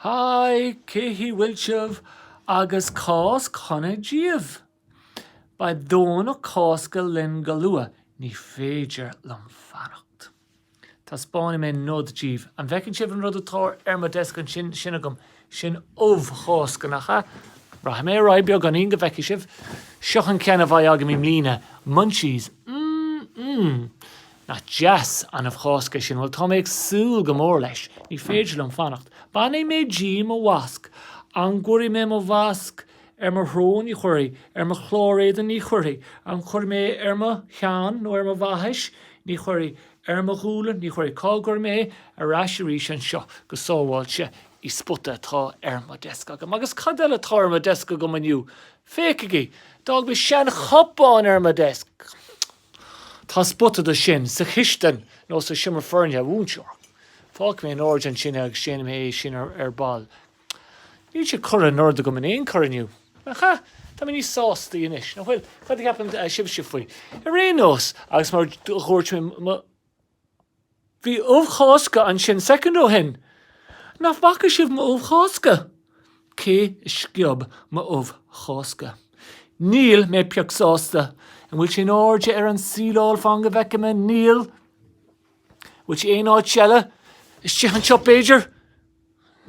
Haigh, cén chaoi a bhfuil sibh agus Cáisc Shona daoibh? Beidh Domhnach Cásca linn go luath, ní féidir liom fanacht. Taispeánfaidh mé nod díbh. An bhfeiceann sibh an rud atá ar mo desk ansin, sin, sin agam, sin ubh Chásca, nach ea? Rachaidh mé ar aghaidh beagáinín go bhfeicfidh sibh. Seo an ceann a bheidh agam i mbliana, Munchies, mm mm. Nach deas an ubh Chásca é sin. Bhuel tá mé ag súil go mór leis. Ní féidir liom fanacht. Bainfidh mé díom mo mhasc. An gcuirfidh mé mo mhasc ar mo shrón? Ní chuirfidh. Ar mo chlár éadain? Ní chuirfidh. An gcuirfidh mé é ar mo cheann nó ar mo bhaithis? Ní chuirfidh. Ar mo ghualainn? Ní chuirfidh. Cá gcuirfidh mé é? Ar ais arís anseo go sábháilte? I spota atá ar mo desk agam. Agus cad eile atá ar mo desk agam inniu? Féachaigí. D'fhág mé seanchupán ar mo desk. Tá spota dó sin sa chistin nó sa seomra foirne, a mhúinteoir. Fágfaidh mé in airde ansin é agus déanfaidh mé é sin ar ball. Níl sé curtha in ord agam in aon chor inniu. Nach ea? Tá mé níos sástaí anois, nach bhfuil? Cad a cheapann sibhse faoi? Ar aon nós, agus mar a dúirt mé mo. Bhí ubh Chásca ansin soicind ó shin. Nach bhfaca sibh m'ubh Chásca? Cé a sciob m'ubh Chásca? Níl mé pioc sásta. An bhfuil sé in airde ar an síleáil? Fan go bhfeicfidh mé. Níl. An bhfuil sé aon áit eile? Istigh anseo b'fhéidir?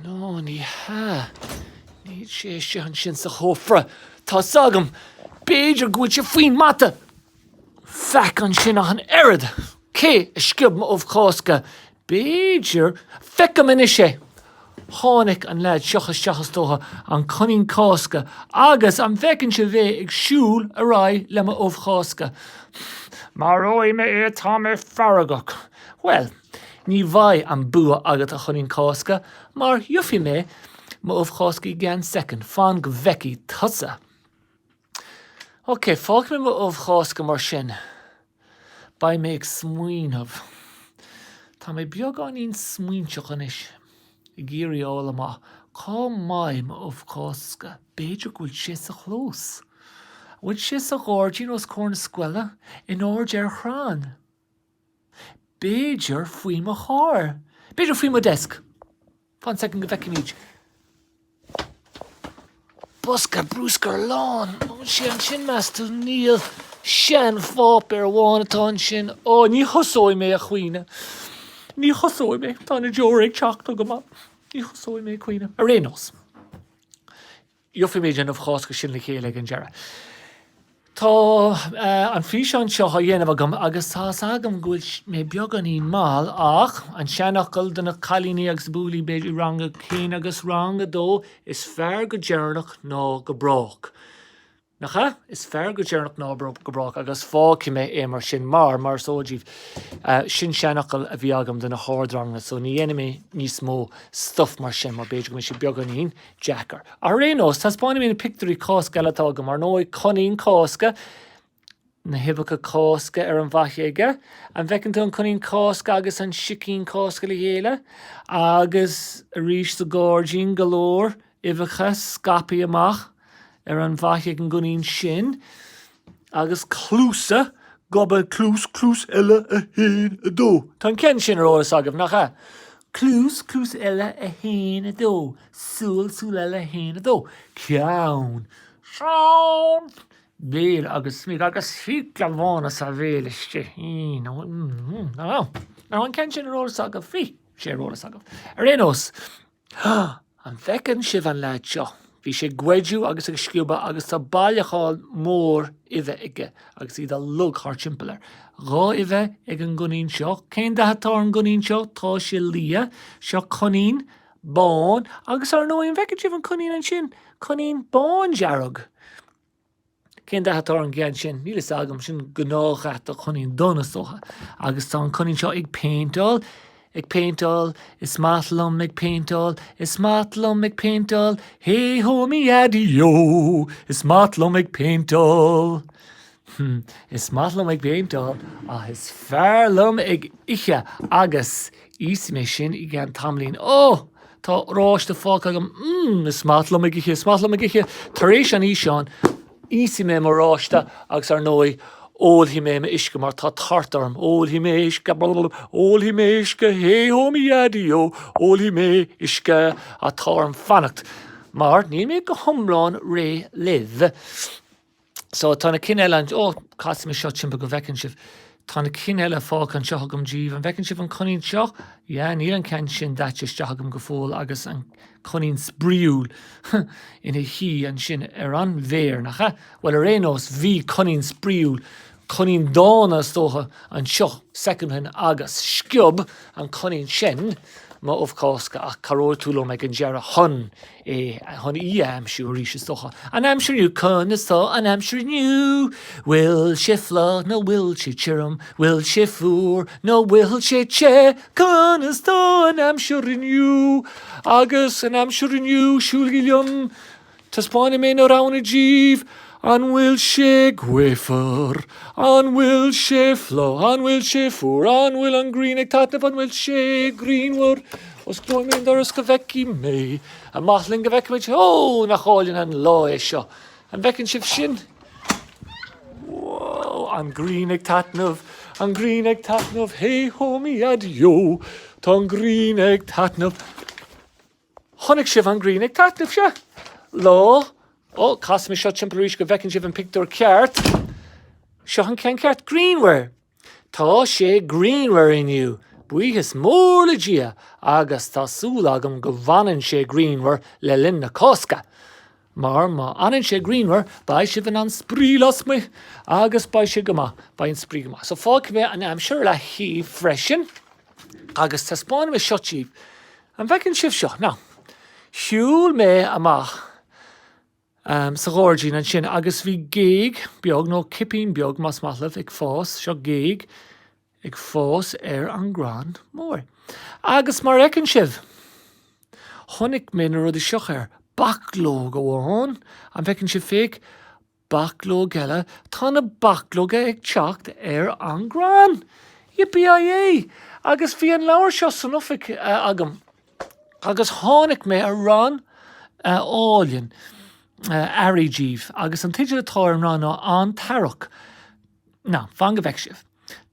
Nó ní hea. Níl sé istigh ansin sa chófra. Tá 's agam. B'fhéidir go bhfuil sé faoin mata! Faic ansin ach an oiread! Cé a sciob mo ubh Chásca? B'fhéidir. Feicim anois é! Tháinig an leaid siúd isteach is dócha, an Coinín Cásca, agus an bhfeiceann sibh é ag siúl ar aghaidh le mo ubh Chásca. Maróidh mé é, tá mé feargach. Bhuel, Ní bheidh an bua agat, a Choinín Cásca, mar gheobhaidh mé mo ubh Chásca i gceann soicind. Fan go bhfeicfidh tusa. Ok, fágfaidh mé mo ubh Chásca mar sin. Beidh mé ag smaoineamh. Tá mé beagáinín smaointeach anois, ag iarraidh a fháil amach cá mbeidh m'ubh Chásca. B'fhéidir go bhfuil sé sa chlós. An bhfuil sé sa ghairdín os comhair na scoile, in airde ar chrann? B'fhéidir faoi mo charr. B'fhéidir faoi mo desk. Fan soicind go bhfeicfimid. Bosca bruscair lán. An bhfuil sé ansin meas tú? Níl. Seanpháipéar amháin atá ansin. Ó, ní thosóidh mé ag caoineadh. Ní thosóidh mé. Tá na deora ag teacht chugam. Ní thosóidh mé ag caoineadh. Ar aon nós. Gheobhaimid an ubh Chásca sin le chéile ag an deireadh. Tá an físeán seo á dhéanamh agam agus tá's agam go bhfuil mé beagáinín mall ach an seanfhocal do na cailíní agus buachaillí b'fhéidir i rang a haon agus rang a dó is fearr go deireanach ná go brách. Nach ea? Is fearr go deireanach ná go brách agus fágfaidh mé é mar sin mar, mar is eol díbh, sin seanfhocal a bhí agam do na hardranganna so ní dhéanfaidh mé níos mó stuif mar sin mar b'fhéidir go mbeidh sé beagáinín deacair. Ar aon nós, taispeánfaidh mé na pictiúirí Cásca eile atá agam. Ar ndóigh, Coinín Cásca, na huibheacha Cásca ar an bhfaiche aige. An bhfeiceann tú an Coinín Cásca agus an Sicín Cásca le chéile? Agus arís sa gáirdín, go leor uibheacha scaipthe amach ar an bhfaiche ag an gCoinín sin. Agus cluasa goba cluas cluas eile a haon a dó. Tá an ceann sin ar eolas agaibh nach ea? Cluas cluas eile a haon a dó. Súil súil eile a haon a dó. Ceann srón béal agus smig agus fiacla bhána sa bhéal istigh. Nach ea? An ceann sin ar eolas agaibh? Bhí sé ar eolas agaibh ar aon nós. Há! An bhfeiceann sibh an leaid seo? Bhí sé ag goideadh agus ag sciobadh agus tá bailiúchán mór uibhe aige agus iad uilig thart timpeall air. Dhá uibhe ag an gcoinín seo. Cén dath atá ar an gcoinín seo? Tá sé liath. Seo coinín bán agus, ar ndóigh, an bhfeiceann sibh an coinín ansin? Coinín bándearg. Cén dath atá ar an gceann sin? Níl fhios agam, sin gnáthdhath do choinín donn is dócha. Agus tá an coinín seo ag péinteáil, ag péinteáil, is maith liom ag péinteáil, is maith liom ag péinteáil, hé hó mo dhaidí ó, is maith liom ag péinteáil. Hmm, is maith liom ag péinteáil ach is fearr liom ag ithe agus. Íosfaidh mé sin i gceann tamaillín. Ó! Tá oráiste fágtha agam. Mmm! Is maith liom ag ithe, is maith liom ag ithe. Tar éis an fhíseáin, íosfaidh mé m'oráiste agus ar ndóigh, ólfaidh mé m'uisce mar tá tart orm. Ólfaidh mé uisce. Ólfaidh mé uisce. Hé-hó mo dhaidí-ó! Ólfaidh mé uisce. Ach tá orm fanacht mar níl mé go hiomlán réidh libh. So tá na cinn eile an, ó, casfaidh mé seo timpeall go bhfeiceann sibh. Tá na cinn eile fágtha anseo agam díbh. An bhfeiceann sibh an coinín seo? Yeah, níl an ceann sin daite isteach agam go fóill agus an coinín spraíúil ina shuí ansin ar an bhféar, nach ea? Bhuel, ar aon nós, bhí coinín spraíúil coinín dána is dócha anseo soicind ó shin agus sciob an coinín sin mo ubh Cásca ach cabhróidh tú liom ag an deireadh chun é, chun í a aimsiú arís is dócha. An aimsir inniu Conas tá an aimsir inniu? Bhfuil sé fliuch nó bhfuil sé tirim? Bhfuil sé fuar nó bhfuil sé te? Conas tá an aimsir inniu? Agus an aimsir inniu Siúlaigí liom Taispeáinfidh mé na roghanna díbh, An bhfuil sé gaofar? An bhfuil sé fliuch? An bhfuil sé fuar? An bhfuil an ghrian ag taitneamh? An bhfuil sé grianmhar? Osclóidh mé an doras go bhfeicfidh mé. Amach linn go bhfeicfimid. Ó, nach álainn an lá é seo! An bhfeiceann sibh sin? Whoa! An ghrian ag taitneamh. An ghrian ag taitneamh. Hé hó mo dhaideo! Tá an ghrian ag taitneamh. Chonaic sibh an ghrian ag taitneamh, sea? Lá, ó, casfaidh mé seo timpeall arís go bhfeiceann sibh an pictiúr ceart. Seo an ceann ceart, grianmhar. Tá sé grianmhar inniu, buíochas mór le Dia, agus tá súil agam go bhfanann sé grianmhar le linn na Cásca. Mar má fhanann sé grianmhar beidh sibh in ann spraoi lasmuigh agus beidh sé go maith, beidh an spraoi go maith. So fágfaidh mé an aimsir ar leataobh freisin agus taispeáinfidh mé seo díbh. An bhfeiceann sibh seo? Now, shiúil mé amach em sa ghairdín ansin agus bhí géag beag nó cipín beag más maith libh ag fás, seo géag, ag fás ar an gcrann mór. Agus mar a fheiceann sibh, chonaic mé na rudaí seo air, bachlóg amháin, an bhfeiceann sibh féach, bachlóg eile, tá na bachlóga ag teacht ar an gcrann! Yippee-yi-yi! Agus bhí an leabhar seo san oifig agam agus tháinig mé ar rann álainn earraigh díbh agus an teideal atá ar an rann ná An tEarrach. Now, fan go bhfeice sibh.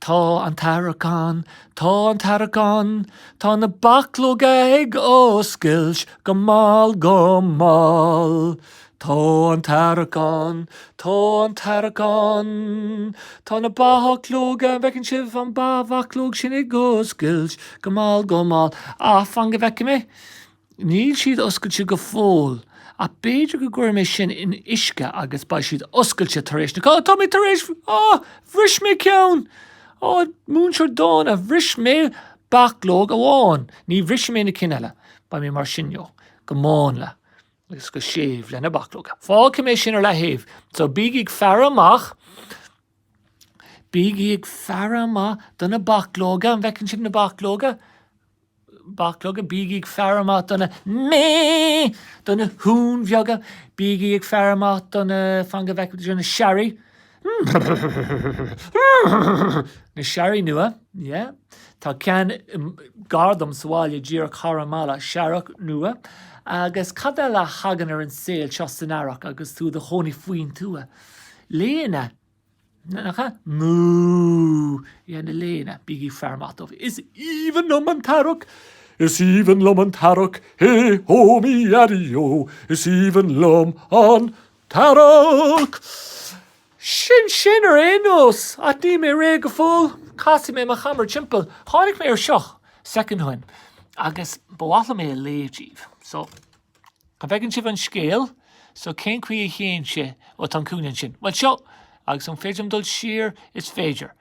Tá an t-earrach ann, tá an t-earrach ann, tá na bachlóga ag oscailt go mall go mall. Tá an t-earrach ann, tá an t-earrach ann, tá na bachlóga, an bhfeiceann sibh an ba- bhachlóg sin ag oscailt go mall go mall. Ach fan go bhfeice mé. Níl siad oscailte go fóill ach b'fhéidir go gcuirfidh mé sin in uisce agus beidh siad oscailte tar éis na Cá-. Tá mé tar éis, á, bhris mé ceann! Á, múinteoir dána, bhris mé bachlóg amháin. Ní bhrisfidh mé na cinn eile. Beidh mé mar sin leo. Go mánla. Agus go séimh le na bachlóga. Fágfaidh mé sin ar leataobh. So bígí ag faire amach. Bígí ag faire amach do na bachlóga. An bhfeiceann sibh na bachlóga? Bachlóga, Bígí ag faire amach do na mé! do na huain bheaga! Bígí ag faire amach do na, fan go bhfeicfidh tú, do na searraigh, na searraigh nua, yeah. Tá ceann gar dom sa bhaile díreach thar an mballa, searrach nua. Agus cad eile a thagann ar an saol seo san earrach agus tú i do chónaí faoin tuath? Laonna. Nú é na léana, bígí féar maith dóibh. Is aoibhinn liom an t-earrach, is aoibhinn liom an t-earrach, hé hó mí earraí ó, is aoibhinn liom an t-earrach. Sin sin ar aon nós. Ach níl mé réidh go fóill. Casfaidh mé mo chamera timpeall. Tháinig mé ar seo soicind ó shin agus ba mhaith liom é a léamh daoibh so. An bhfeiceann sibh an scéal? So cén chaoi a théann sé ó tá an cúinne ansin? Bhuel seo, agus an féidir liom dul siar? Is féidir.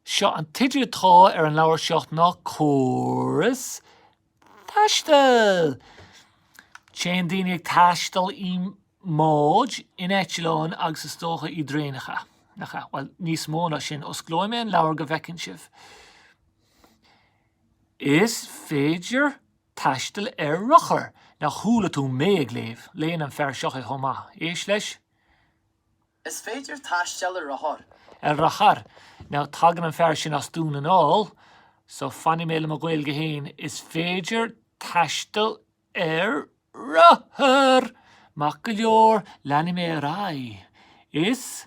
Seo an teideal atá ar an leabhar seo ná Córas Taistil! Téann daoine ag taisteal i mbáid, in eitleáin agus is dócha i dtraenacha. Nach ea? Bhuel, níos mó ná sin. Osclóidh mé an leabhar go bhfeiceann sibh. Is féidir Taisteal ar rothar! Nár chuala tú mé ag léamh? Léann an fear seo é chomh maith. Éist leis. Is féidir taisteal ar rothar. Ar rothar! Now tagann an fear sin as Dún na nGall, so fanfaidh mé le mo Ghaeilge fhéin, is féidir taisteal ar rothar! Maith go leor, leanfaidh mé ar aghaidh. Is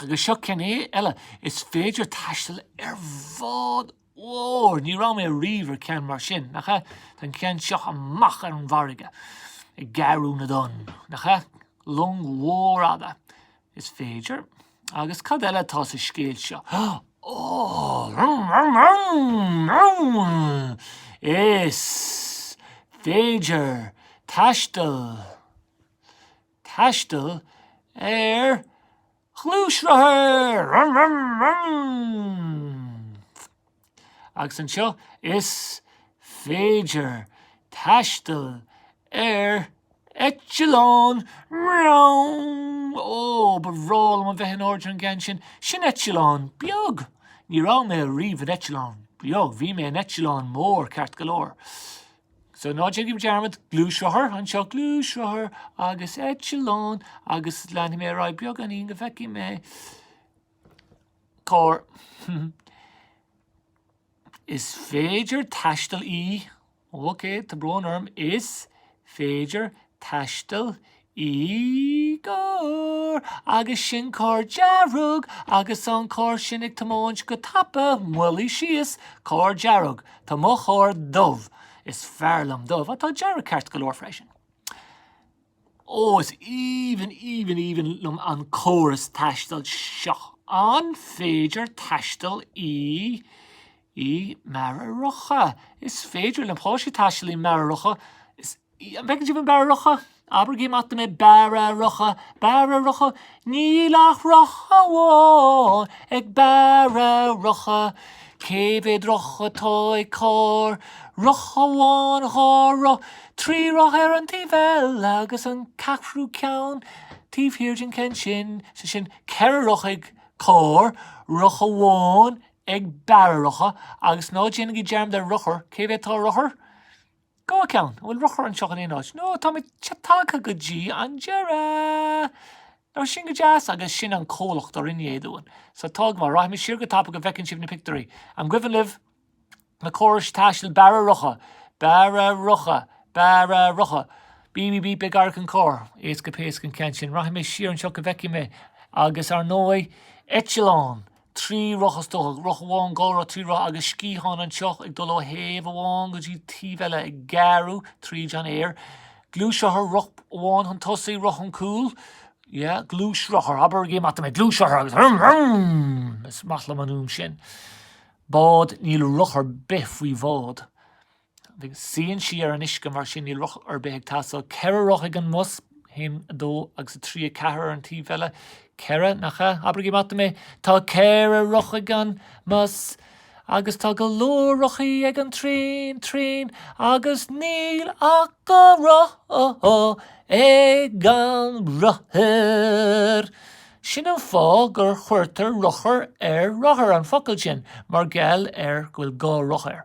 Agus seo ceann eile, is féidir taisteal ar bhád mhór. Ní raibh mé riamh ar ceann mar sin, nach ea? Tá an ceann seo amach ar an bhfarraige, ag gearradh na dtonn, nach ea? Long mhór fhada, is féidir. Agus cad eile atá sa scéal seo? Ó! Rum rum rum! Rum! Is féidir taisteal taisteal ar ghluaisrothar! Rum rum rum! Agus anseo is féidir taisteal ar eitleán! Mreown! Ó, ba bhreá liom a bheith in airde ar an gceann sin. Sin eitleán beag! Ní raibh mé riamh in eitleán beag, bhí mé in eitleán mór ceart go leor. So ná déanaigí dearmad gluaisrothar anseo, gluaisrothar agus eitleán agus leanfaidh mé ar aghaidh beagáinín go bhfeicfidh mé carr. Is féidir taisteal i, ok, tá brón orm, is féidir taisteal i gcarr, agus sin carr dearg agus an carr sin ag tiomáint go tapa moilligh síos, carr dearg. Tá mo charr dubh. Is fearr liom dubh, ach tá dearg ceart go leor freisin. Ó, is aoibhinn, aoibhinn, aoibhinn liom an córas taistil seo. An féidir taisteal i, i mbara rotha? Is féidir le páistí taisteal i mbara rotha. Is. An bhfeiceann sibh an bara rotha? Abraigí amach dom é, bara rotha, bara rotha, níl ach roth amháin ag bara rotha. Cé mhéad roth atá ag carr? Roth amháin, dhá roth, trí roth ar an taobh eile agus an ceathrú ceann taobh thiar den ceann sin, sin ceithre roth ag carr, roth amháin ag bara rotha, agus ná déanaigí dearmad ar rothar, cé mhéad atá ar rothar? Dhá cheann, an bhfuil rothar anseo in aon áit? No, táimid tagtha go dtí an deireadh! No, sin go deas agus sin an comhlacht a rinne é dúinn. So tá go maith, rachaidh mé siar go tapa go bhfeiceann sibh na pictiúirí. An gcuimhin libh na córais taistil bara rotha, bara rotha, bara rotha. Beep beep beep féach ar an gcarr. Éasca péasca an ceann sin. Rachaidh mé siar anseo go bhfeicfidh mé, agus ar ndóigh, eitleán! Trí roth, is dócha. Roth amháin, dhá roth, trí roth agus sciathán anseo ag dul ó thaobh amháin go dtí taobh eile ag gearradh tríd an aer. Gluaisrothar, roth amháin chun tosaigh, roth chun cúil. Yeah, gluaisrothar. Abraigí amach dom é. Gluaisrothar agus vroom vroom! Is maith liom an fhuaim sin. Bád, níl roth ar bith faoi bhád. Suíonn sí ar an uisce mar sin níl roth ar bith ag teastáil. Ceithre roth ag an mbus, a haon, a dó agus a trí, a ceathair ar an taobh eile. Ceithre, nach ea? Abraigí amach dom é! Tá ceithre roth ag an mbus agus tá go leor rothaí ag an traein, traein, agus níl ach dhá roth ag an rothar. Sin an fáth gur chuirtear rothar ar rothar, an focal sin, mar gheall ar go bhfuil dhá roth air.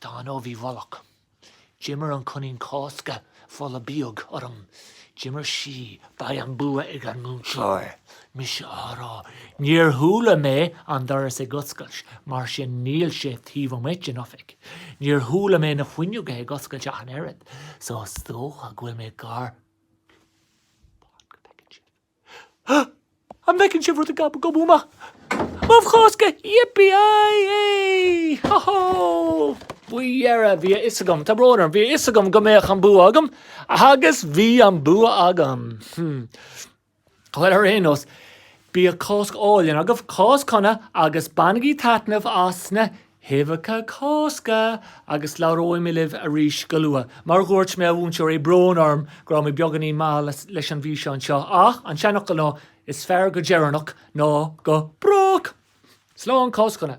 Tá an ubh i bhfolach. D'imir an Coinín Cásca folach bíog orm. D'imir sí, beidh an bua ag an múinteoir. Mise á rá. Níor chuala mé an doras ag oscailt, mar sin níl sé taobh amuigh den oifig. Níor chuala mé na fuinneoga ag oscailt ach an oiread, so is dócha go bhfuil mé gar. An bhfeiceann sibh rud ag gobadh amach? M'ubh Chásca! Yippee-i-yay! Ho-ho! Faoi dheireadh bhí a fhios agam, tá brón orm, bhí a fhios agam go mbeadh an bua agam agus bhí an bua agam. Bhuel, ar aon nós, bíodh Cáisc álainn agaibh, Cáisc shona agus bainigí taitneamh as na huibheacha Cásca agus labhróidh mé libh arís go luath. Mar a dhúirt mé, a mhúinteoirí, brón orm go raibh mé beagáinín mall leis an bhfíseán seo ach an seanfhocal ná Is fearr go deireanach ná go brách! Slán, Cáisc shona!